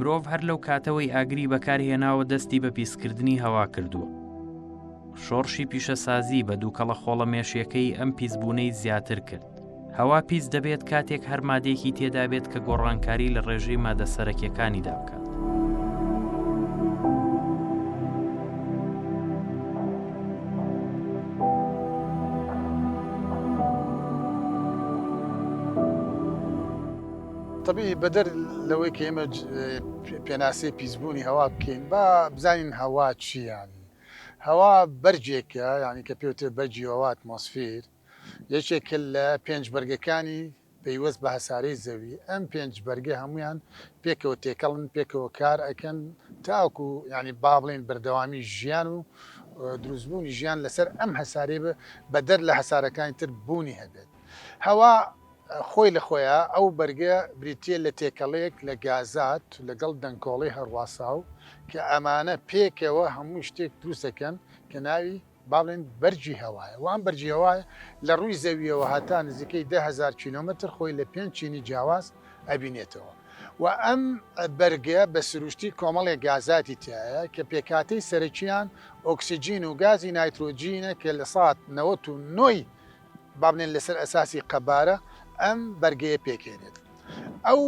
مرۆڤ هەر لەو کاتەوەی ئاگری بەکارهێناوە دەستی بە پیسکردنی هەوا کردووە شۆڕشی پیشەسازی بە دووکەڵە خۆڵە مێشیەکەی ئەم پیسبوونەی زیاتر کرد هەوا پیس دەبێت کاتێک هەر مادەیەکی تێدابێت کە گۆڕانکاری لە ڕێژەی مادە سەرەکیەکانیدا بکات. طبی بەدەر لەوەی کە ئێمە پێناسی پیسبوونی هەوا بکەین با بزانین هەوا چییان هەوا بەرجێکە ینی کە پێوتێ بەرجی هەوات مۆسفیر یەکێکە لە پێنج بەرگەکانی پەیوەست بە هەسارەی زەوی، ئەم پێنج بەرگە هەموویان پێکەوە تێکەڵن، پێکەوە کار ئەکەن تاوەکو یانی با بڵێین بەردەوامی ژیان و دروستبوونی ژیان لەسەر ئەم هەسارەی بەدەر لە هەسارەکانی تر بوونی هەبێت. هەوا خۆی لە خۆیا ئەو بەرگە بریتییە لە تێکەڵەیەک لە گازات لەگەڵ دەنکۆڵەی هەڕواساو کە ئەمانە پێکەوە هەموو شتێک دروست ئەکەن کە ناوی، با بڵێین بەرگی هەوایە و ئەم بەرگی هەوایە لە ڕووی زەوییەوە هەتا نزیکەی دە هەزار کیلۆمەتر خۆی لە پێنج چینی جیاواز ئەبینێتەوە و ئەم بەرگە بە سروشتی کۆمەڵێک گازاتی تیایە کە پێکهاتەی سەرەکییان ئۆکسجین و گازی نایترۆجینە کە لە سات نەوەت و نۆ ی با بڵێین لەسەر ئەساسی قەبارە ئەم بەرگەیە پێکهێنێت. ئەو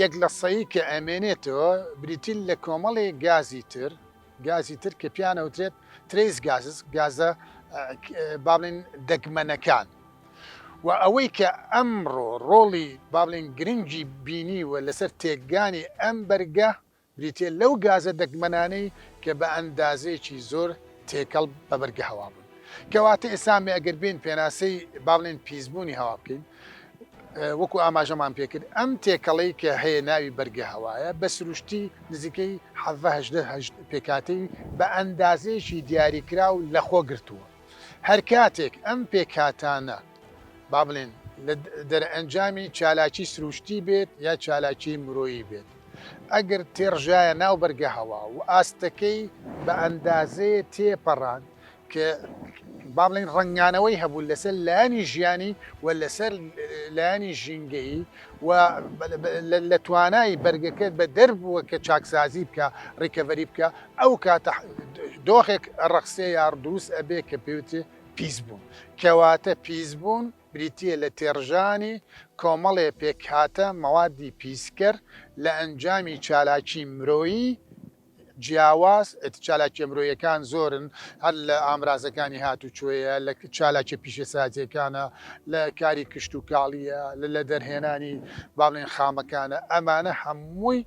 یەک لە سەی کە ئەمێنێتەوە بریتین لە کۆمەڵێک گازی تر، گازی تر کە پێیان ئەوترێت ترەیس گازز گازە بابلین دەگمەنەکان و ئەوەی کە ئەمڕۆ ڕۆڵی بابلین گرنگی بینی و لەسەر تێکگانی ئەم بەرگە بریتە لەو گازە دەگمەنانەی کە بە ئەندازەیەکی زۆر تێکەڵ بە بەرگە هەوا بوون کەواتە ئێسامێ ئەگەر بین پێناسەی بابلین پیسبوونی هەوا بکەین وەکو ئاماژەمان پێکرد ئەم تێکەڵەی کە هەیە ناوی بەرگە هەوایە بە سروشتی نزیکەی حەڤە هەژدە پێکهاتەی بە ئەندازەیەکی دیاریکراو لەخۆ گرتووە هەرکاتێک ئەم پێکهاتانە با بڵێن لە دەرئەنجامی چالاکی سروشتی بێت یا چالاکی مرۆیی بێت ئەگەر تێڕژایە ناو بەرگە هەوا و ئاستەکەی بە ئەندازەیە تێپەڕاند کە با بڵێین ڕەنگانەوەی هەبوو لەسەر لایەنی ژیانی و لەسەر لایەنی ژینگەیی و لە توانای بەرگەکە بە دەربووە کە چاکسازی بکە ڕیکەڤەری بکە ئەو کاتە دۆخێک ڕەخسێ یا دروست ئەبێ کە پێوتێ پیس بوون کەواتە پیس بوون بریتە لە تێڕژانی کۆمەڵێ پێکهاتە مەوادی پیسکەر لە ئەنجامی چالاکی مرۆیی جیاواز، چالاکییە مرۆیەکان زۆرن، هەر لە ئامرازەکانی هاتوچۆیە، لە چالاکییە پیشەسازییەکانە، لە کاری کشتوکاڵییە، لە لە دەرهێنانی با بڵێین خامەکانە، ئەمانە هەمووی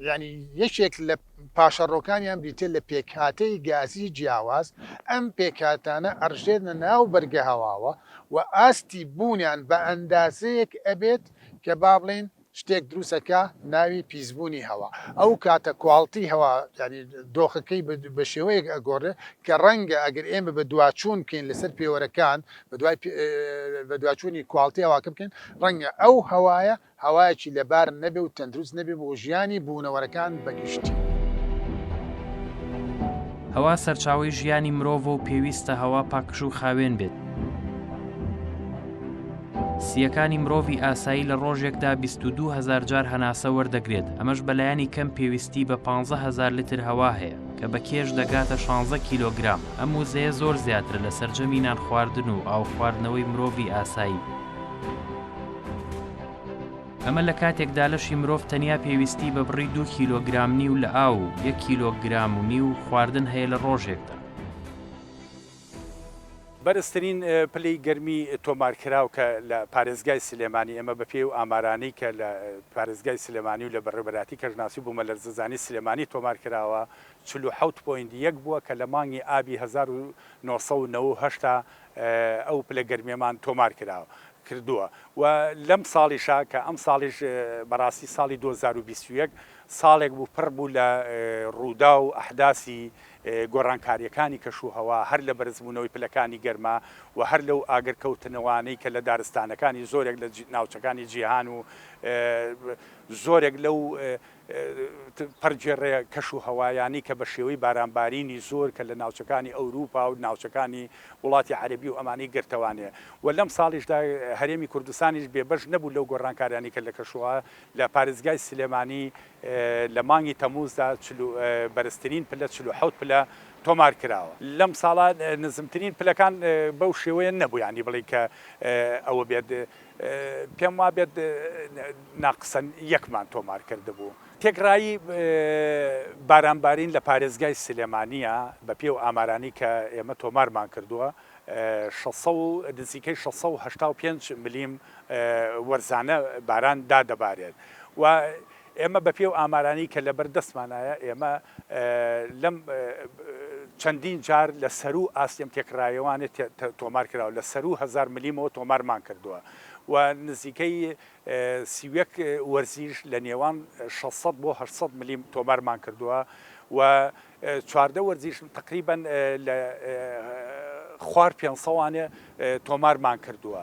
یانی یەکێک لە پاشەڕۆکانیان بریتییە لە پێکهاتەی گازی جیاواز، ئەم پێکهاتانە ئەڕژێنە ناو بەرگەهەواوە و ئاستی بوونیان بە ئەندازەیەک ئەبێت کە با بڵێین شتێک دروستە کە ناوی پیسبوونی هەوا ئەو کاتە کواڵتی هەوا یانی دۆخەکەی بە شێوەیەک ئەگۆڕێ کە ڕەنگە ئەگەر ئێمە بە دواچوون بکەین لەسەر پێوەرەکان بە دوای بە دواچوونی کواڵتی هەواکە بکەین ڕەنگە ئەو هەوایە هەوایەکی لەبار نەبێ و تەندروست نەبێ بۆ ژیانی بوونەوەرەکان بە گشتی. هەوا سەرچاوەی ژیانی مرۆڤە و پێویستە هەوا پاکژ و خاوێن بێت. سییەکانی مرۆڤی ئاسایی لە ڕۆژێکدا بیست و دوو هەزار جار هەناسە وەردەگرێت، ئەمەش بە لایەنی کەم پێویستی بە پانزە هەزار لتر هەوا هەیە، کە بە کێش دەگاتە شانزە کیلۆگرام، ئەم وزەیە زۆر زیاترە لە سەرجەمی نان خواردن و ئاو خواردنەوەی مرۆڤی ئاسایی. ئەمە لە کاتێکدا لەشی مرۆڤ تەنیا پێویستی بە بڕی دوو کیلۆگرام نیو لە ئاو و یەک کیلۆگرام و نیو خواردن هەیە لە ڕۆژێکدا. بەرزترین پلەی گەرمی تۆمارکراو کە لە پارێزگای سلێمانی، ئێمە بە پێی ئەو ئامارانەی کە لە پارێزگای سلێمانی و لە بەڕێوەبەرایەتی کەشناسی و بومەلەرزەزانی سلێمانی تۆمار کراوە چل و حەوت پۆینت یەک بووە کە لە مانگی ئابی هەزار و نۆ سەد و نەوە و هەشت ئەو پلە گەرمیەمان تۆمار کراوە کردووە و لەم ساڵیشا کە ئەم ساڵیش بەڕاستی ساڵی دوو هەزار و بیست و یەک ساڵێک بوو پڕ بوو لە ڕووداو و ئەحداسی گۆڕانکارییەکانی کەشوهەوا هەر لە بەرزبوونەوەی پلەکانی گەرما و هەر لەو ئاگرکەوتنەوانەی کە لە دارستانەکانی زۆرێک لە ناوچەکانی جیهان و زۆرێک لەو پەرگێڕە کەشوهەوایانەی کە بە شێوەی بارانبارینی زۆر کە لە ناوچەکانی ئەوروپا و ناوچەکانی وڵاتی عەرەبی و ئەمانەی گرتەوانێ و لەم ساڵیشدا هەرێمی کوردستانیش بێبەش نەبوو لەو گۆڕانکاریانەی کە لە کەشوهەوا لە پارێزگای سلێمانی لە مانگی تەمووزدا چل و بەرزترین پلە چل و حەوت پلە تۆمار کراوە. لەم ساڵە نزمترین پلەکان بەو شێوەیە نەبوو یانی بڵێی کە ئەوە بێت پێم وابێت ناقسەن یەکمان تۆمار کردبوو. تێکڕایی بارانبارین لە پارێزگای سلێمانییە، بە پێی ئەو ئامارانەی کە ئێمە تۆمارمان کردووە شەش سەد و نزیکەی شەش سەد و هەشتا و پێنج ملیم وەرزانە باران دادەبارێت و ئێمە بە پێی ئەو ئامارانەی کە لەبەر دەستمانایە ئێمە لەم چەندین جار لە سەرو ئاستێم تێکڕایەوانێت تۆمار کراوە لە سەرو هزار ملیمەوە تۆمارمان کردووە و نزیکەی سیوەک وەرزیش لە نێوان 600 بۆ 600 ملیم تۆمارمان کردووە و چواردە وەرزیش تقریبان لە خوار پێسەوانێ تۆمارمان کردووە.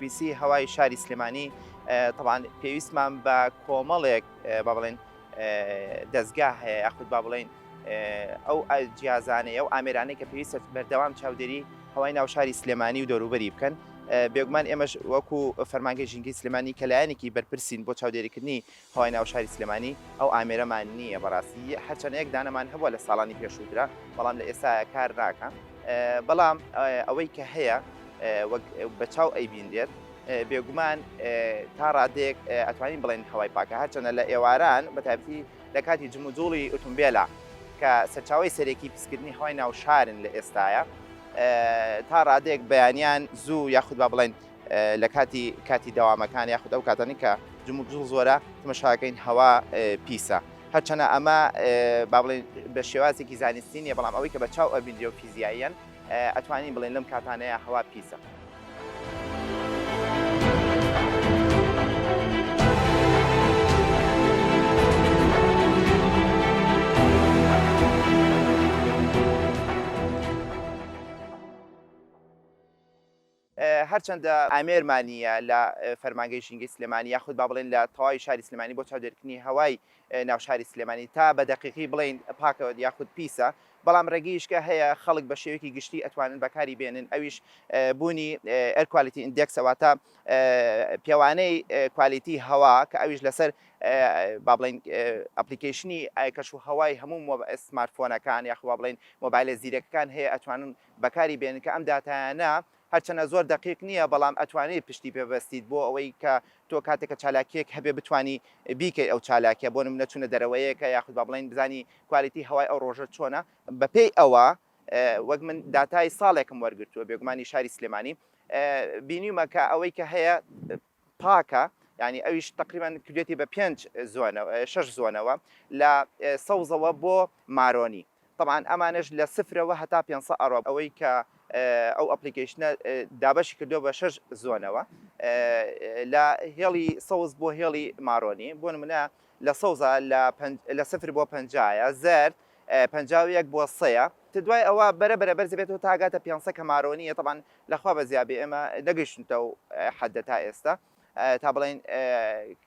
پیسی هەوای شاری سلێمانی تەبان پێویستمان بە کۆمەڵێک با بڵێن دەستگا هەیە یاخود با بڵین ئەو جیازانەیە ئەو ئامێرانەی کە پێویستە بەردەوام چاودێری هەوای ناو شاری سلێمانی و دەوروبەری بکەن بێگومان ئێمەش وەکو فەرمانگە ژینگەی سلێمانی کە لایەنێکی بەرپرسین بۆ چاودێریکردنی هەوای ناو شاری سلێمانی ئەو ئامێرەمان نییە بەڕاستی هەرچەنە یەک دانەمان هەبوە لە ساڵانی پێشوو درا بەڵام لە ئێستایا کار ناکا بەڵام ئەوەی کە هەیە وەک بە چاو ئەیبینرێت بێگومان تا ڕادێک ئەتوانین بڵێن هەوای پاکە هەرچەنە لە ئێواران بە تایبەتی لە کاتی جموجوڵی ئۆتومبێلە کە سەرچاوی سەرەکی پیسکردنی هەوای ناو شارن لە ئێستایا تا ڕادێک بەیانیان زوو یاخود با بڵێن لە کاتی کاتی دەوامەکان یاخود ئەو کاتانی کە جموک جڵ زۆرە تمەشاکەین هەوا پیسە هەرچەنە ئەمە با بڵێن بە شێوازێکی زانستی نیە بەڵام ئەوەی کە بە چاو ئەبیندری و فیزیاییان ئەتوانین بڵێن لەم کاتانەیە هەوا پیسە. هەرچەندە ئامێر مانییە لە فەرمانگەی ژینگەی سلێمانی یاخود با بڵێین لە تەواوی شاری سلێمانی بۆ چاودێرکردنی هەوای ناو شاری سلێمانی تا بە دەقیقی بڵێین پاکە یاخود پیسە بەڵام ڕێگەیشکە هەیە خەڵک بە شێوەیەکی گشتی ئەتوانن بەکاری بێنن ئەویش بوونی ئێر کوالیتی ئیندێکسە واتە پێوانەی کوالیتی هەوا کە ئەویش لەسەر با بڵێین ئەپلیکەیشنی ئایکەش و هەوای هەموو سمارت فۆنەکان یاخوا بڵێین مۆبایلە زیرەکەکان هەیە ئەتوانن بەکاری بێنن کە ئەم داتایانە هەرچەنە زۆر دەقیق نییە بەڵام ئەتوانیت پشتی پێ بەستیت بۆ ئەوەی کە تۆ کاتێک کە چالاکییەک هەبێت بتوانی بیکەیت ئەو چالاکیە بۆ نمونە چونە دەرەوەیەکە یاخود با بڵێین بزانی کوالیتی هەوای ئەو ڕۆژە چۆنە بەپێی ئەوە وەک من داتای ساڵێکم وەرگرتووە بێگومانی شاری سلێمانی بینیومە کە ئەوەی کە هەیە پاکە یعنی ئەویش تقریبا کردێتی بە پێنج شش زۆنەوە لە سەوزەوە بۆ مارۆنی طبعاان ئەمانش لە سفرەوە هەتا پێ ئەڕۆ ئەوەی کە ئەو ئەپلیکیشنە دابەشی کردو بە شش زۆنەوە لە هێڵی سەوز بۆ هێڵی مارۆنی بۆ منە لە سەوزە لە سفر بۆ پنجایە زرد پەنجا و یەک بۆ سەیە تە دوای ئەوە بەرە بەرە بەرز دەبێتەوە تا ئەگاتە پێنج سە کە مارۆنییە تەبان لە خوا بە زیابێ ئێمە نەگەیشتونتە ئەو حەددە تا ئێستا تا بڵێین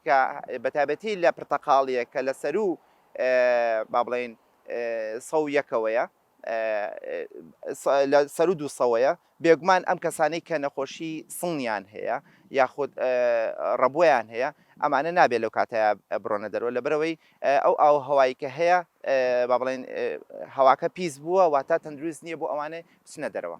کە بە تایبەتی لە پرتەقاڵیە کە لە سەرو با بڵێین سە و یەکەوەیە لە سەرو دوو سەوەیە بێگومان ئەم کەسانەی کە نەخۆشی سڵنیان هەیە یاخود ڕەبۆیان هەیە ئەمانە نابێت لەو کاتەیا بڕۆنە دەرەوە لەبەرئەوەی ئەو ئاو و هەوایی کە هەیە با بڵێن هەواکە پیس بووە واتا تەندروست نییە بۆ ئەوانەی بچنە دەرەوە.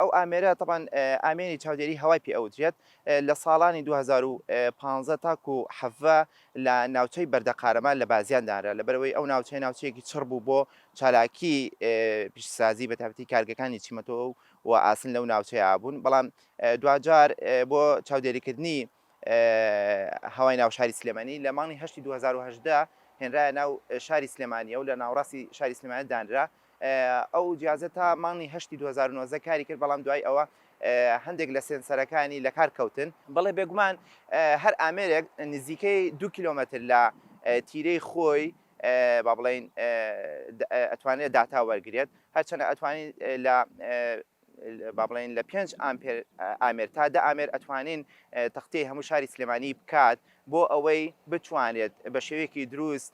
ئەو ئامێرە تەبعەن ئامێری چاودێری هەوای پێ ئەوترێت، لە ساڵانی دوو هەزار و پازدە تاکو حەڤە لە ناوچەی بەردە قارەمان لە بازیان دانرا، لەبەرئەوەی ئەو ناوچەیە ناوچەیەکی چڕ بوو بۆ چالاکی پیشەسازی بە تایبەتی کارگەکانی چیمەتۆ و ئاسن لەو ناوچەیە بوون، بەڵام دواجار بۆ چاودێریکردنی هەوای ناو شاری سلێمانی لە مانگی هەشتی دوو هەزار و هەژدە هێنرایە ناو شاری سلێمانییەو لە ناوەڕاستی شاری سلێمانیە دانرا ئەو جیازە تا مانگی هەشتی دوو هەزار و نۆزدە کاری کرد بەڵام دوای ئەوە هەندێک لە سێنسەرەکانی لە کار کەوتن. بەڵێ بێگومان هەر ئامێرێک نزیکەی دوو کیلۆمەتر لە تیرەی خۆی با بڵێین ئەتوانێت داتا وەرگرێت هەرچەنە ئەتوانین لە با بڵێین لە پێنج ئامپێر ئامێر تا دە ئامێر ئەتوانین تەختێی هەموو شاری سلێمانی بکات بۆ ئەوەی بتوانێت بە شێوەیەکی دروست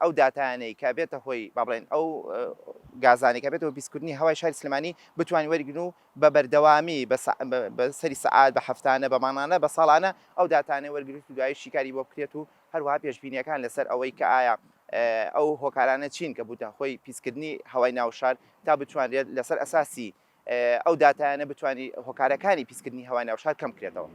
ئەو داتانەی کە بێتە هۆی با بڵێن ئەو گازانێک کە بێتەوە بیسکردنی هەوای شاری سلمانی بتوانین وەرگن و بە بەردەوامی بە سەری سەعات بە هەفتانە بە مانانە بە ساڵانە ئەو داتانە وەرگرت و دوای شیکاری بۆ بکرێت و هەروەها پێشبینییەکان لەسەر ئەوەی کە ئایا ئەو هۆکارانە چین کە بووتە هۆی پیسکردنی هەوای ناو شار تا بتوانرێت لەسەر ئەساسی ئەو داتایانە بتوانی هۆکارەکانی پیسکردنی هەوای ناو شار کەمکرێتەوە.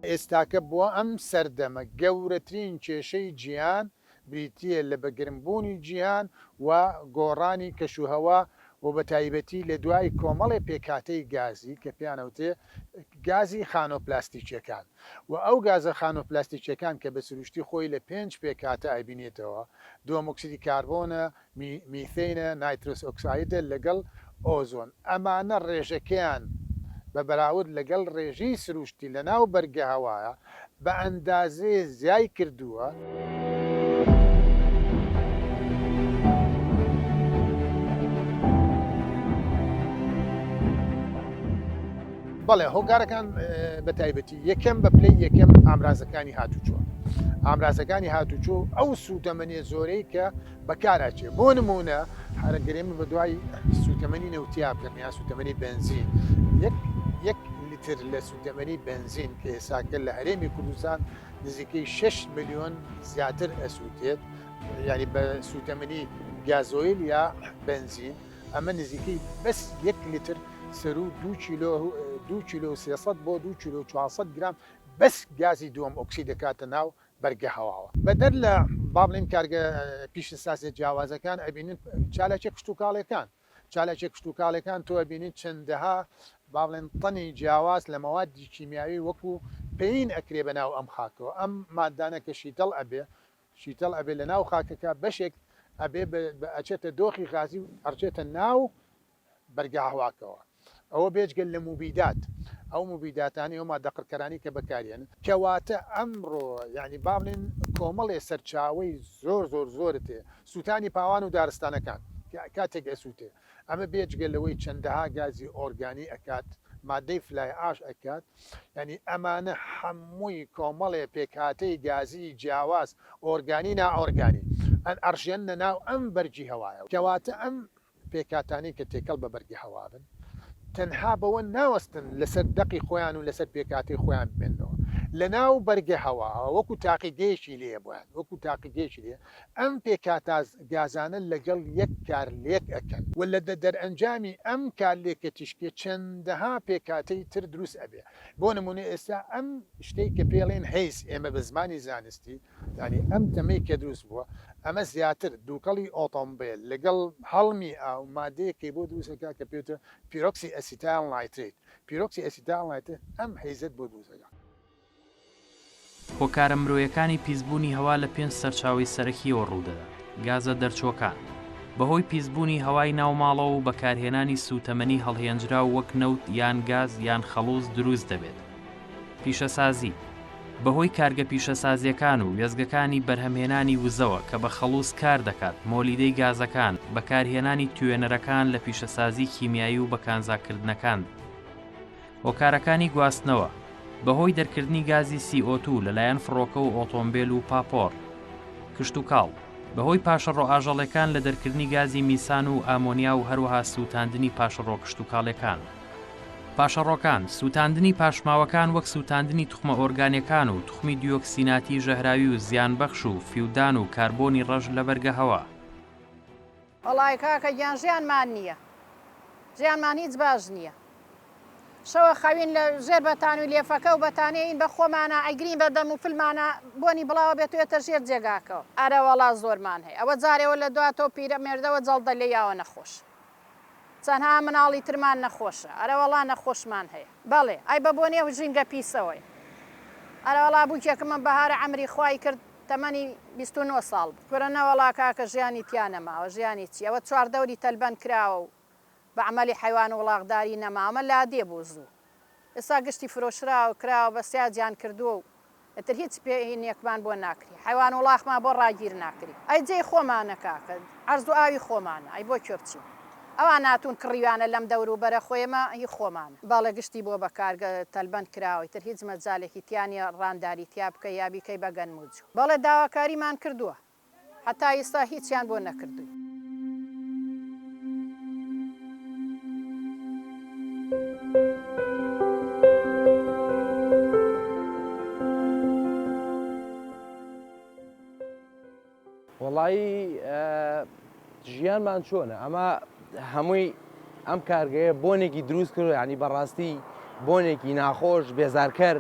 ئێستاکە بۆ ئەم سەردەمە گەورەترین کێشەی جیهان بریتییە لە بە گرمبوونی جیهان و گۆڕانی کەشوهەوا و بە تایبەتی لە دوای کۆمەڵێ پێکهاتەی گازی کە پێیان ئەوترێ گازی خانۆ پلاستیکییەکان و ئەو گازە خانۆ پلاستیکییەکان کە بە سروشتی خۆی لە پێنج پێکهاتە ئەبینێتەوە، دووەمۆکسیدی کاربۆنە، میثەینە، نایترۆس ئۆکسایدە لەگەڵ ئۆزۆن، ئەمانە ڕێژەکەیان بە بەراورد لەگەڵ ڕێژەی سروشتی لەناو بەرگە هەوایا بە ئەندازەی زیای کردووە. بەڵێ هۆکارەکان بە تایبەتی یەکەم بە پلەی یەکەم ئامرازەکانی هاتوچۆ ئامرازەکانی هاتوچۆ ئەو سوودەمەنێ زۆرەی کە بەکاراچێت بۆ نموونە هەرە گەرێمە بە دوای سووتەمەنی نەوتیا بکەم یان سووتەمەنی بەنزین یەک یەک لتر لە سوتەمەنی بنزین کە ئێساکە لە هەرێمی کوردستان نزیکەی 6 میلیۆن زیاتر ئەسووتێت ینی بە سوتەمەنی گازۆیل یا بنزین ئەمە نزیکەی بەس یەک لتر سەرو دو کیلۆ دو کیلو 300 بۆ دو کیلو 400 گرام بەس گازی دووەم ئۆکسی دەکاتە ناو بەرگە هەواوە. بەدەر لە با بڵێین کارگە پیشەسازیە جیاوازەکان ئەبینین چالاکیە کشتوکاڵیەکان چالاکیە کشتوکاڵیەکان تۆ ئەبینیت چەندەها با بڵێن تەنی جیاواز لە مەوادی کیمیاوی وەکو پێین ئەکرێ بە ناو ئەم خاکەوە ئەم مادانە کە شیتەڵ ئەبێ شیتەڵ ئەبێ لە ناو خاکەکە بەشێک ئەبێ ئەچێتە دۆخی غازی و ئەڕچێتە ناو بەرگاهواکەوە ئەوە بێجگە لە موبیدات ئەو موبیداتانەی ئەو ماددە قڕکەرانەی کە بەکاریێن. کەواتە ئەمڕۆ یانی با بڵێن کۆمەڵێ سەرچاوەی زۆر زۆر زۆرت هەیە سووتانی پاوان و دارستانەکان کاتێک ئەسووتێ ئەمە بێجگە لەوەی چەندەها گازی ئۆرگانی ئەکات ماددەی فلای ئاش ئەکات یانی ئەمانە هەمووی کۆمەڵێ پێکهاتەی گازی جیاواز ئۆرگانی نائۆرگانی ئەنئەڕژێننە ناو ئەم بەرگی هەوایەوە کەواتە ئەم پێکهاتانەی کە تێکەڵ بە بەرگی هەوا بن تەنها بەوە ناوەستن لەسەر دەقی خۆیان و لەسەر پێکهاتەی خۆیان بمێنەوە لەناو بەرگە هەواوە وەکو تاقیگەیەکی لێیە بۆیان وەکو تاقیگەیەکی لێیە ئەم پێکهاتە گازانە لەگەڵ یەک کارلێک ئەکەن و لە دەرئەنجامی ئەم کارلێکە تیشکی چەندەها پێکهاتەی تر دروست ئەبێ بۆ نمونە ئێستا ئەم شتەی کە پێڵێن هەیز ئێمە بە زمانی زانستی یانی ئەم تەمەی کە دروست بووە ئەمە زیاتر دووکەڵی ئۆتۆمبێل لەگەڵ هەڵمی ئاو مادەیەکەی بۆ دروست دەکات کە پێوترێ پیرۆکسی ئەسیتایل نایترەیت پیرۆکسی ئەسیتایل نایترەیت ئەم هەیزەت بۆ دروست دەکات. هۆکارە مرۆیەکانی پیسبوونی هەوا لە پێنج سەرچاوەی سەرەکییەوە ڕوودەدات، گازە دەرچووەکان، بەهۆی پیسبوونی هەوای ناو ماڵەوە و بەکارهێنانی سووتەمەنی هەڵهێنجراو وەک نەوت یان گاز یان خەڵوز دروست دەبێت، پیشەسازی، بەهۆی کارگە پیشەسازییەکان و وێستگەکانی بەرهەمهێنانی وزەوە کە بە خەڵووز کار دەکات، مۆلیدەی گازەکان، بەکارهێنانی توێنەرەکان لە پیشەسازی کیمیایی و بە کانزاکردنەکاند. هۆکارەکانی گواستنەوە، بەهۆی دەرکردنی گازی سی ئۆ توو لەلایەن فڕۆکە و ئۆتۆمبێل و پاپۆڕ. کشتوکاڵ، بەهۆی پاشەڕۆ ئاژەڵێکان لە دەرکردنی گازی میسان و ئامۆنیا و هەروەها سووتاندنی پاشەڕۆ کشتوکاڵێکان. پاشەڕۆکان، سووتاندنی پاشماوەکان وەک سووتاندنی توخمە ئۆرگانیەکان و توخمی دیۆکسیناتی ژەهراوی و زیانبەخش و فیودان و کاربۆنی ڕەش لە بەرگەهەوا. وەڵای کاکە گیان ژیان مان نیە ژیان مان هیچ باش نیە شەوە خەوین لە ژێر بەتانوی لێفەکە و بەتانێ ین بە خۆمانا ئەیگرین بە دەم و فلمانا بۆنی بڵاوە بێت و یەتە ژێر جێگاکەوە ئەرەوەڵا زۆرمان هەیە ئەوە جارێوە لە دوا تۆ پیرە مێردەوە جەڵدە لێ یاوە نەخۆش. تەنها مناڵی ترمان نەخۆشە. ئەرەوەڵا نەخۆشمان هەیە. بەڵێ. ئای بەبۆنەی ئەو ژینگە پیسەوەی. ئەرەوەڵا بوکێکم ئەم بەهارە عەمری خوای کرد تەمەنی بیست و نۆ ساڵ بوو. کورە نەوەڵا کاکە ژیانی تیا نەماوە ژیانی چی ئەوە چواردەوری تەلبەند کراوە و بە عەمەلی حەیوان وڵاخداری نەماوە ئەمە لادێ بوو زوو. ئێستا گشتی فرۆشراوە کراوە بە سیاجیان کردوە و ئیتر هیچ پێ نێکمان بۆ ناکری حەیوان وڵاخمان بۆ ڕاگیر ناکری ئەی جێی خۆمانە کاکە عەرز و ئاوی خۆمانە ئەی بۆ کوێ بچین ئەوان هاتون کڕیویانە لەم دەور و بەرە خۆ ئێمە هی خۆمانە بەڵێ گشتی بۆ بە کارگە تەلبەند کراوە ئیتر هیچ مەجالێکی تیا نیە ڕانداری تیا بکەی یا بیکەی بە گەنم و جو بەڵێ داواکاریمان کردوە هەتا ئیستا هیچیان بۆ نەکردووی. وەڵایی ژیانمان چۆنە ئەمە هەمووی ئەم کارگەیە بۆنێکی دروست کرد ینی بەڕاستی بۆنێکی ناخۆش بێزارکەر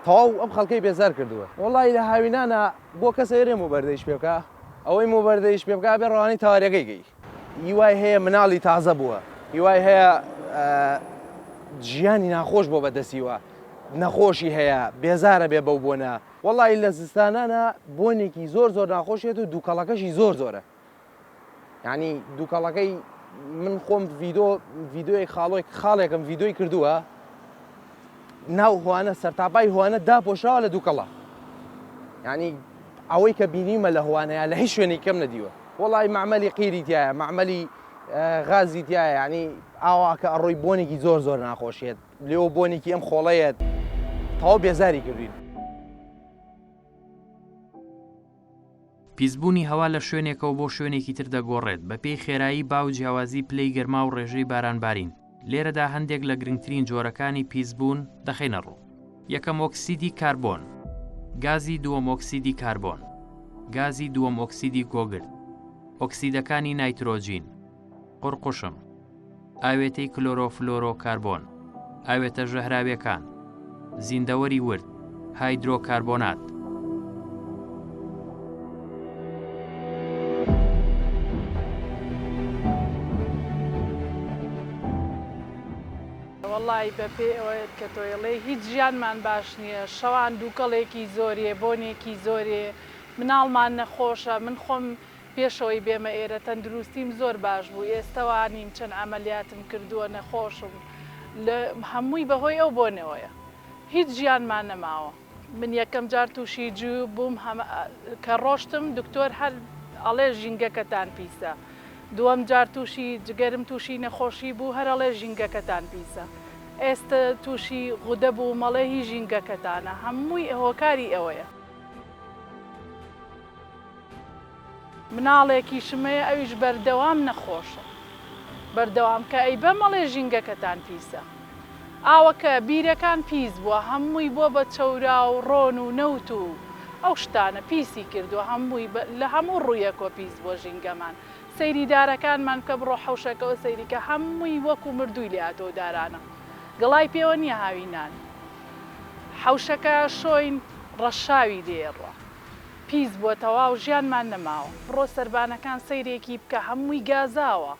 تەواو ئەم خەڵکەی بێزار کردووە وڵی لە هاوینانە بۆ کەسە ێرێ و بەردەیش پێ بکە ئەوەی و بەردەیش پێ بکە بێ ڕوانی تاوارەکەی گەی هیوای هەیە مناڵی تازە بووە هیوای هەیە ژیانی ناخۆش بۆ بەدەسیوە نەخۆشی هەیە بێزارە بێ بەو بۆنە وەڵاهی لە زستانانا بۆنێکی زۆر زۆر ناخۆشێت و دووکەڵەکەشی زۆر زۆرە یعنی دووکەڵەکەی من خۆم ڤیدۆ ڤیددیوی خاڵۆی خاڵێکم ڤیددیوی کردووە ناو هوانە سەرتاپای هوانە داپۆشراوە لە دووکەڵە ینی ئەوەی کە بینیمە لە هوانەیە لە هیچ شوێنی کەم نەدیوە وڵی معمەلی قیری تایە معمەلی غازی تایە ینی ئاواکە ئەڕۆی بۆنێکی زۆر زۆر ناخۆشێت لێۆ بۆنێکی ئەم خۆڵەیە تەواو بێزاری کردوین. پیسبوونی هەوا لە شوێنێکەوە بۆ شوێنێکی تر دەگۆڕێت بەپێی خێرایی با و جیاوازی پلەی گەرما و ڕێژەی بارانبارین، لێرەدا هەندێک لە گرنگترین جۆرەکانی پیسبوون دەخەینە ڕوو. یەکەم ئۆکسیدی کاربۆن. گازی دووەم ئۆکسیدی کاربۆن. گازی دووەم ئۆکسیدی گۆگرد. ئۆکسیدەکانی نایترۆجین. قوڕقوشم، ئاوێتەی کلۆرۆفلۆرۆکاربۆن، ئاوێتە ژەهراویەکان، زیندەوەری ورد، هایدرۆکاربۆنات. وەڵایی بە پێی ئەوەت کە تۆ ئێڵێ هیچ ژیانمان باش نیە شەوان دووکەڵێکی زۆرێ بۆنێکی زۆرێ مناڵمان نەخۆشە من خۆم پێشەوەی بێمە ئێرە تەندروستیم زۆر باش بوو ئێستە وانیم چەند عەمەلیاتم کردووە نەخۆشم لە هەمووی بەهۆی ئەو بۆنەوەیە هیچ ژیانما نەماوە. من یەکەم جار توشی جوو بووم کە ڕۆشتم دکتۆر هەر ئەڵێ ژینگەکەتان پیسە دووەم جار توشی جگەرم توشی نەخۆشی بوو هەر ئەڵێ ژینگەکەتان پیسە ئێستە توشی غودە بووم ئەڵێ هی ژینگەکەتانە هەمووی هۆکاری ئەوەیە. مناڵێکیشم هەیە ئەویش بەردەوام نەخۆشە بەردەوام کە ئەی بەم ئەڵێ ژینگەکەتان پیسە ئاوەکە بیرەکان پیس بوە هەمووی بۆ بە چەوراو ڕۆن و نەوت و ئەو شتانە پیسی کردوە هەمووی لە هەموو ڕویەکۆ پیس بوە ژینگەمان سەیری دارەکانمان بکە بڕۆ حەوشەکەوە سەیریکە هەمووی وەکو مردووی لاتۆ دارانە گەڵای پێوە نیە هاوی نان حەوشەکە شۆین ڕەشاوی لێ ڕۆ. پیس بوە تەواو ژیانمان نەماوە بڕۆ سەربانەکان سەیرێکی بکە هەموی گازاوە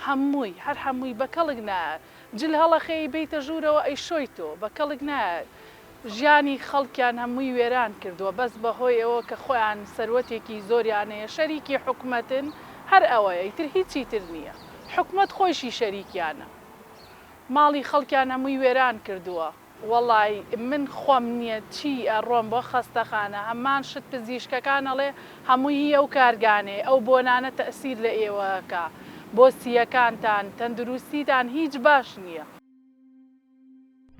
هەموی هەر هەموی بەکەڵک نایەت جل هەڵەخێی بێیتە ژورەوە ئەیشۆی تۆ بەکەڵک نایەت ژیانی خەڵکیان هەموی وێران کردوە بەس بەهۆی ئەوە کە خۆیان سەروەتێکی زۆریان هەیە شەریکی حکومەتن هەر ئەوەیە ئیتر هیچی تر نیە حکومەت خۆیشی شەریکیانە ماڵی خەڵکیان هەموی وێران کردوە. وەڵای من خۆم نیە چی ئەڕۆم بۆ خەستەخانە هەمان شت پزیشکەکان ئەڵێ هەمووی هی ئەو کارگانەیە ئەو بۆنانە تەئسیر لە ئێوە ئەکا بۆ سییەکانتان تەندروستیتان هیچ باش نیە.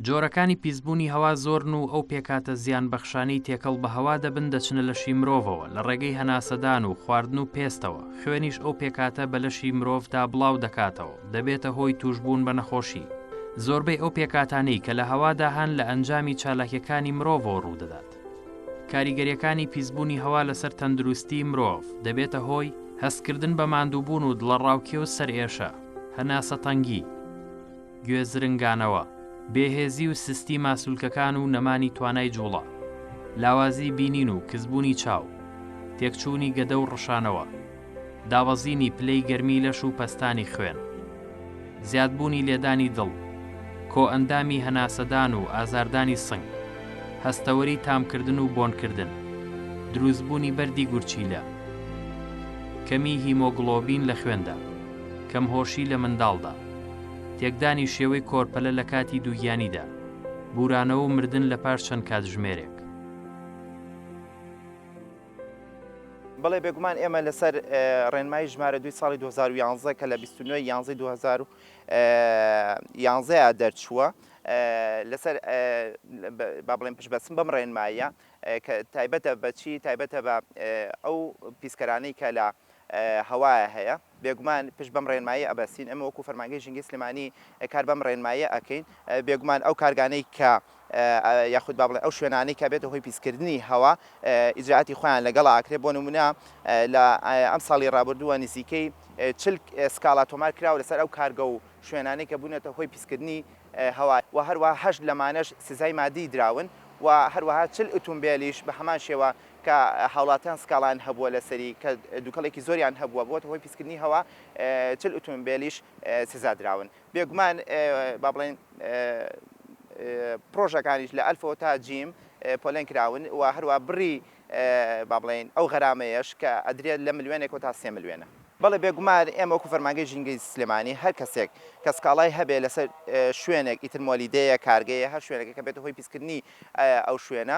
جۆرەکانی پیسبوونی هەوا زۆرن و ئەو پێکهاتە زیانبەخشانەی تێکەڵ بە هەوا دەبن دەچنە لەشی مرۆڤەوە لە ڕێگەی هەناسەدان و خواردن و پێستەوە، خوێنیش ئەو پێکهاتە بە لەشی مرۆڤدا بڵاو دەکاتەوە. دەبێتە هۆی تووشبوون بە نەخۆشی. زۆربەی ئەو پێکاتانەی کە لە هەوادا هەن لە ئەنجامی چالاکیەکانی مرۆڤەوە ڕوودەدات. کاریگەریەکانی پیسبوونی هەوا لەسەر تەندروستی مرۆڤ دەبێتە هۆی، هەستکردن بە ماندووبوون و دڵەڕاوکێ و سەرئێشە، هەناسەتەنگی، گوێ زرنگانەوە، بێهێزی و سستی ماسولکەکان و نەمانی توانای جوڵە، لاوازی بینین و کزبوونی چاو، تێکچوونی گەدە و ڕشانەوە. دابەزینی پلەی گەرمی لەش و پەستانی خوێن. زیادبوونی لێدانی دڵ. کۆئەندامی هەناسەدان و ئازاردانی سنگ. هەستەوەری تامکردن و بۆنکردن. دروستبوونی بەردی گورچیلە. کەمی هیمۆگڵۆبین لە خوێندا. کەمهۆشی لە منداڵدا. تێکدانی شێوەی کۆرپەلە لە کاتی دووگیانیدا. بوورانەوە و مردن لە پاش چەند کاتژمێرێک. بەڵێ بێگومان ئێمە لەسەر ڕێنمایی ژمارە دوی ساڵی 2011 کە لە 29 یانزی 2011 دەرچووە لەسەر با بڵێن پشت بەسم بەم ڕێنمایە کە تایبەتە بەچی تایبەتە بە ئەو پیسکەرانەی کە لە هەوایە هەیە بێگومان پشت بەم ڕێنماییە ئەبەستین، ئێمە وەکو فەرمانگەی ژینگەی سلێمانی کار بەم ڕێنماییە ئەکەین، بێگومان ئەو کارگانەی کە یاخود با بڵێین ئەو شوێنانەی کە بێتە هۆی پیسکردنی هەوا ئیجرائاتی خۆیان لەگەڵا ئەکرێ، بۆ نمونە لە ئەم ساڵی ڕابردووە نزیکەی چل سکاڵا تۆمار کراوە لەسەر ئەو کارگە و شوێنانەی کە بوونەتە هۆی پیسکردنی هەوا و هەروەها هەشت لەمانەش سزای ماددی دراون و هەروەها چل ئوتومبێلیش بە هەمان شێوە کە هاوڵاتیان سکاڵایان هەبووە لەسەری کە دوکەڵێکی زۆریان هەبووە بووەتە هۆی پیسکردنی هەوا چل ئوتومبێلیش سزا دراون بێگومان با بڵێین پڕۆژەکانیش لە ئەلفەوە تا جیم پۆلێن کراون و هەروە بڕی با بڵێین ئەو غەرامەیەش کە ئەدرێت لە ملیۆنێکەوە تا سێ ملیۆنە. بەڵێ بێگومان ئێمە وەکو فەرمانگەی ژینگەی سلێمانی هەر کەسێک کە سکاڵای هەبێ لەسەر شوێنێک ئیتر مۆلیدەیە کارگەیە هەر شوێنێکە کە بێتە هۆی پیسکردنی ئەو شوێنە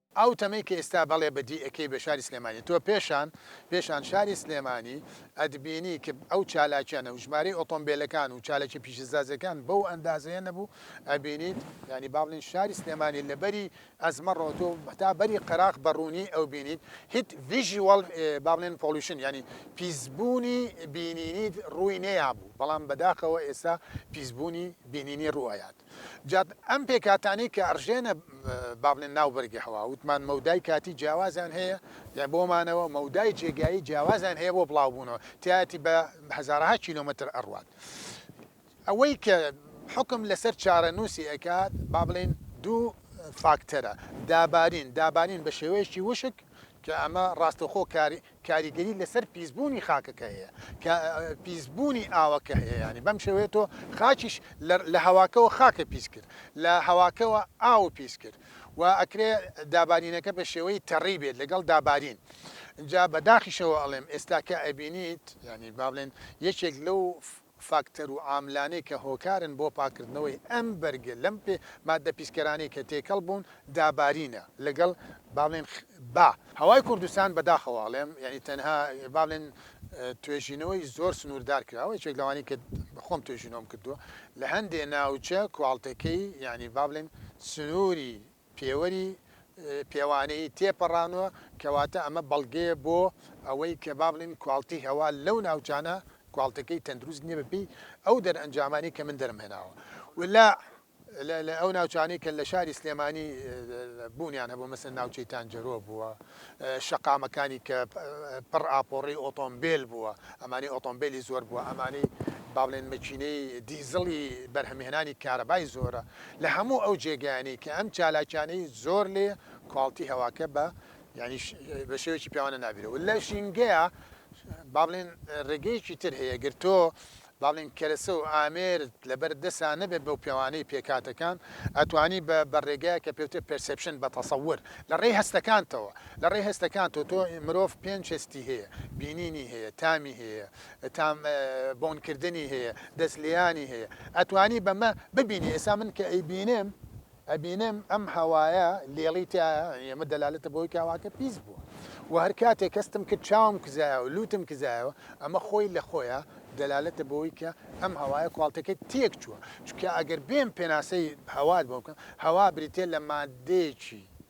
ئەو تەمەی کە ئیستا بەڵێ بە دی ئەکەی بە شاری سلێمانی تۆ پێشان پێشان شاری سلێمانی ئەتبینی ک ئەو چالاکیە نەبو ژمارەی ئۆتۆمبێلەکان و چالاکیە پیشەسازیەکان بەو ئەندازەیە نەبو ئەبینیت یانی با بڵێن شاری سلێمانی لە بەری ئەزمە ڕۆ تۆ هەتا بەری قەراخ بە ڕونی ئەوبینیت هیت ڤیژیوەڵ با بڵێن پۆڵیشن یانی پیسبونی بینینیت ڕوی نەیابو بەڵام بەداخەوە ئێستا پیسبونی بینینی ڕو ئەیات. جا ئەم پێکهاتانەی کە ئەڕژێنە با بڵێن ناو بەرگی هەوا وتمان مەودای کاتی جیاوازیان هەیە یان بۆ مانەوە مەودای جێگایی جیاوازیان هەیە بۆ بڵاوبوونەوە تیاتی بە هزارها کیلومتر ئەڕوات ئەوەی کە حکم لەسەر چارەنووسی ئەکات با بڵین دوو فاکتەرە دابارین دابارین بە شێوەیەکی وشک کە ئەمە ڕاستەخۆ کاری کاریگەری لەسەر پیسبوونی خاکەکە هەیە کە پیسبوونی ئاوەکە هەیە یانی بەم شێوەیە تۆ خاکیش لە هەواکەوە خاکە پیس کرد لە هەواکەوە ئاو پیس کرد و ئەکرێ دابارینەکە بە شێوەی تەڕی بێت لەگەڵ دابارین جا بەداخیشەوە ئەڵێم ئێستا کە ئەبینیت یانی با بڵێن یەکێک لەو فاکتەر و عاملانەی کە هۆکارن بۆ پاککردنەوەی ئەم بەرگە لەم پێ ماددە پیسکەرانەی کە تێکەڵ بوون دابارینە لەگەڵ با بڵێن با هەوای کوردستان بەداخەوە ئەڵێم یانی تەنها با بڵێن توێژینەوەی زۆر سنووردار کراوە یەکێک لەوانەی کە خۆم توێژینەوەم کردووە لە هەندێ ناوچە کوالتەکەی یانی با بڵێن سنووری پێوەری پێوانەیی تێپەڕاندووە، کەواتە ئەمە بەڵگەیە بۆ ئەوەی کە با بڵێین کواڵتیی هەوا لەو ناوچانە کواڵتییەکەی تەندروست نییە بەپێی ئەو دەرئەنجامانەی کە من دەرمهێناوە و لە لە ئەو ناوچانەی کە لە شاری سلێمانی بوونیان هەبووە مەسەن ناوچەی تانجەرۆ بووە شەقامەکانی کە پڕ ئاپۆڕی ئۆتۆمبێل بووە، ئەمانەی ئۆتۆمبێلی زۆر بووە، ئەمانەی با بڵێن مەکینەی دیزڵی بەرهەمهێنانی کارەبای زۆرە، لە هەموو ئەو جێگایانەی کە ئەم چالاکیانەی زۆر لێیە، کواڵتی هەواکە بە یانی بە شێوەیەکی پێوانە نابیرەوە. لە ژینگەیا با بڵێن ڕێگەیەکی تر هەیە گەر تۆ بەڵێن کەرەسە و ئامێر لەبەر دەسا نەبێت بەو پێوانەی پێکهاتەکان ئەتوانی بە بە ڕێگایەک کە پێوترێت پێرسێپشن بە تەسەور لە ڕێی هەستەکانتەوە لە ڕێی هەستەکانتەوە تۆ مرۆڤ پێنج هەستی هەیە بینینی هەیە تامی هەیە تام بۆن کردنی هەیە دەست لێیانی هەیە ئەتوانی بەمە ببینی ئێستا من کە ئەیبینم ئەبینم ئەم هەوایە لێڵی تیایە ئەمە دەلالەتە بەوەی کە هەواکە پیس بووە و هەر کاتێک هەستم کرد چاوم کزایە و لووتم کزایەوە ئەمە خۆی لە خۆیە دەلالەتە بەوەی کە ئەم هەوایە کواڵتەکەی تێک چووە چونکە ئەگەر بێم پێناسەی هەوات بۆ بکەم هەوا بریتیە لە ماددەیەکی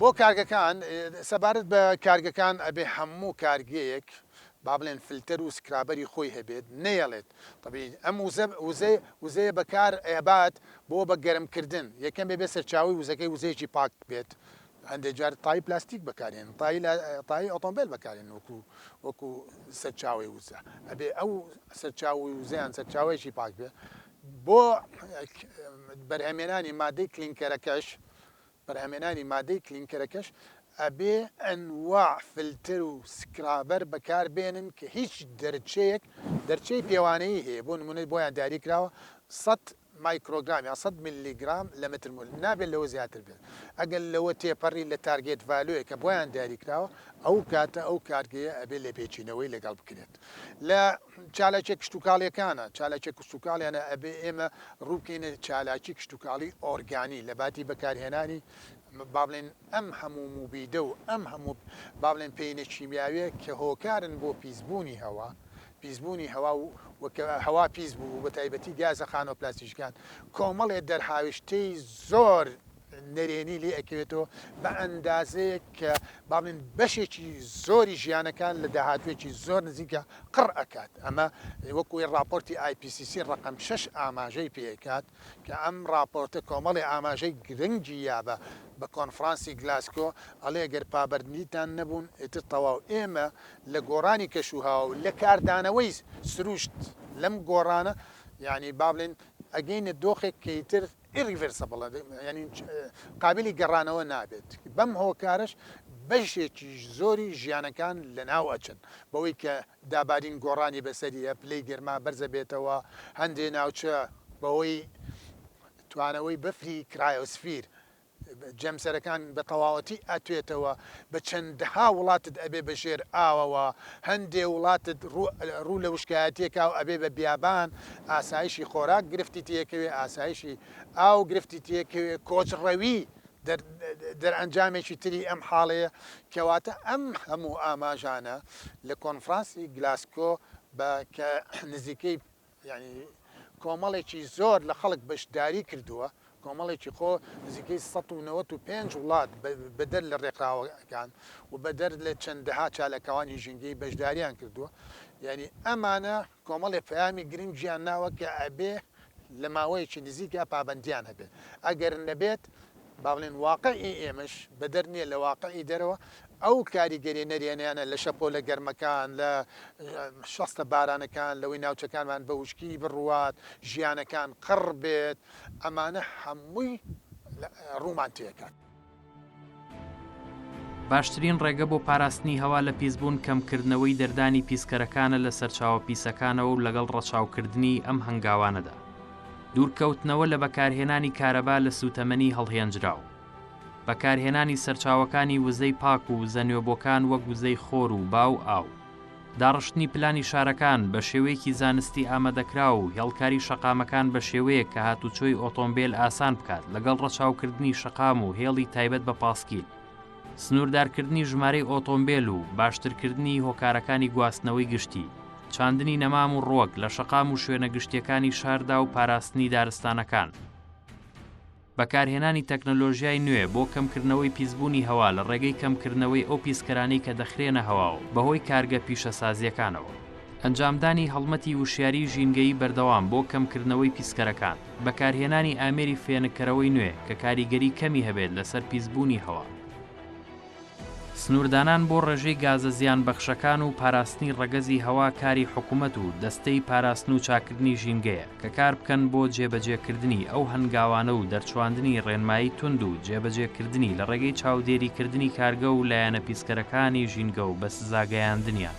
بۆ کارگەکان، سەبارەت بە کارگەکان ئەبێ هەموو کارگەیەک با بڵێن فلتەر و سکرابەری خۆی هەبێت نەیەڵێت طبیعی ئەم وزە وزە وزەیە بەکار ئەبات بۆ بە گەرم کردن یەکەم بێ بێ سەرچاوەی وزەکەی وزەیەکی پاک بێت هەندێک جار تای پلاستیک بەکارێن تای تای ئۆتۆمبیل بەکارێن وەکو وەکو سەرچاوی وزە ئەبێ ئەو سەرچاوی وزەیان سەرچاوەیەکی پاک بێ بۆ بەرهەمێنانی مادەی کلینکەرەکەش بەرهەمێنانی مادەی کلینکەرەکەش ئەبێ ئەنواع فلتر و سکرابەر بەکار بێنن کە هیچ دەرچەیەک دەرچەی پێوانەیی هەیە بۆ نمونە بۆیان دیاری کراوە سەد مایکرۆگرام یان سەد ملی گرام لە متر مول نابێت لەوە زیاتر بێت ئەگەر لەوە تێپەڕی لە تارگێت ڤالۆیە کە بۆیان دیاری کراوە ئەو کاتە ئەو کارگەیە ئەبێ لێپێچینەوەی لەگەڵ بکرێت لە چالاکیە کشتوکاڵیەکانە چالاکیە کشتوکاڵیانە ئەبێ ئێمە ڕووکەینە چالاکی کشتوکاڵی ئۆرگانی لە باتی بەکارهێنانی بابلێن ئەم هەموو موبیدە و ئەم هەموو بابلێن پێینە کیمیاوێ کە هۆکارن بۆ پیسبوونی هەوا پیسبوونی هەوا و هەوا پیس بوو بە تایبەتی گازە خانۆ پلاستیشکان کۆمەڵێ دەرهاویشتەی زۆر نەرێنی لێ ئەکەوێتەوە بە ئەندازەیەک کە باڵێن بەشێکی زۆری ژیانەکان لە داهاتوێکی زۆر نزیکە قڕ ئەکات ئەمە وەکوی راپۆرتی IPCC ڕقم شش ئاماژەی پێکات کە ئەم راپۆرتە کۆمەڵی ئاماژەی گرنگی یابە بە کۆنفرانسی گلاسکۆ ئەڵێ گەر پابەرنیتان نەبوون ئیتر تەواو ئێمە لە گۆڕانی کەشوها و لە کاردانەوەی سروشت لەم گۆڕانە یعنی با بڵێن ئەگەینە دۆخێک کەیتر Irreversible، یانی قابیلی گەڕانەوە نابێت، بەم هۆکارەش بەشێکی زۆری ژیانەکان لەناو ئەچن، بەوەی کە دابالین گۆڕانی بەسەریە، پلەی گەرما بەرزەبێتەوە، هەندێ ناوچە بەهۆی توانەوەی بەفری کرایۆسفیر جەمسەرەکان بە تەواوەتی ئەتوێتەوە بە چەندەها وڵاتت ئەبێ بە ژێر ئاوەوە هەندێ وڵاتت ڕوو لە وشکایەتیەکا و ئەبێ بە بیابان ئاسایشی خۆراک گرفتی تێکەوێ ئاسایشی ئاو گرفتی تێکەوێ کۆچ ڕەوی دەرئەنجامێکی تری ئەم حاڵەیە کەواتە ئەم هەموو ئاماژانە لە کۆنفرانسی گلاسکۆ بە کە نزیکەی یانی کۆمەڵێکی زۆر لە خەڵک بەشداری کردووە، کۆمەڵێکی خۆ نزیکەی سەد و نەوەد و پێنج وڵات بەدەر لە رێکخراوەکان و بەدەر لە چەندەها چالاکوانی ژینگەیی بەشداریان کردووە، یانی ئەمانە کۆمەڵێک پەیامی گرنگیان ناوە کە ئەبێ لە ماوەیەکی نزیکدا پابەندیان هەبێت، ئەگەر نەبێت با بڵێن واقعی ئێمەش بەدەر نییە لە واقعی دەرەوە ئەو کاریگەرییە نەرێنیانە لە شەپۆلە گەرمەکان، لە شەستە بارانەکان لەوەی ناوچەکانمان بە وشکی بڕوات، ژیانەکان قڕ بێت، ئەمانە هەمووی ڕوومان تێکات. باشترین ڕێگە بۆ پاراستنی هەوا لە پیسبوون کەمکردنەوەی دەردانی پیسکەرەکانە لە سەرچاوە پیسەکانەوە و لەگەڵ ڕەچاوکردنی ئەم هەنگاوانەدا، دوورکەوتنەوە لە بەکارهێنانی کارەبا لە سووتەمەنی هەڵهێنجراو. بەکارهێنانی سەرچاوەکانی وزەی پاک و وزە نوێبۆکان وەک وزەی خۆر و با و ئاو. داڕشتنی پلانی شارەکان بە شێوەیەکی زانستی ئامادەکراو و هێڵکاری شەقامەکان بە شێوەیەک کە هاتوچۆی ئۆتۆمبێل ئاسان بکات لەگەڵ ڕەچاوکردنی شەقام و هێڵی تایبەت بە پاسکیل. سنووردارکردنی ژمارەی ئۆتۆمبێل و باشترکردنی هۆکارەکانی گواستنەوەی گشتی، چاندنی نەمام و ڕوەک لە شەقام و شوێنە گشتیەکانی شاردا و پاراستنی دارستانەکان. بەکارهێنانی تەکنەلۆژیای نوێ بۆ کەمکردنەوەی پیسبوونی هەوا لە ڕێگەی کەمکردنەوەی ئەو پیسکەرانەی کە دەخرێنە هەواوە بەهۆی کارگە پیشەسازییەکانەوە. ئەنجامدانی هەڵمەتی وشیاریی ژینگەیی بەردەوام بۆ کەمکردنەوەی پیسکەرەکان. بەکارهێنانی ئامێری فێنککەرەوەی نوێ کە کاریگەری کەمی هەبێت لەسەر پیسبوونی هەوا. سنووردانان بۆ ڕێژەی گازە زیانبەخشەکان و پاراستنی ڕەگەزی هەوا کاری حکومەت و دەستەی پاراستن و چاککردنی ژینگەیە کە کاربکەن بۆ جێبەجێکردنی ئەو هەنگاوانە و دەرچواندنی ڕێنمایی توند و جێبەجێکردنی لە ڕێگەی چاودێریکردنی کارگە و لایەنە پیسکەرەکانی ژینگە و بە سزاگەیاندنیان.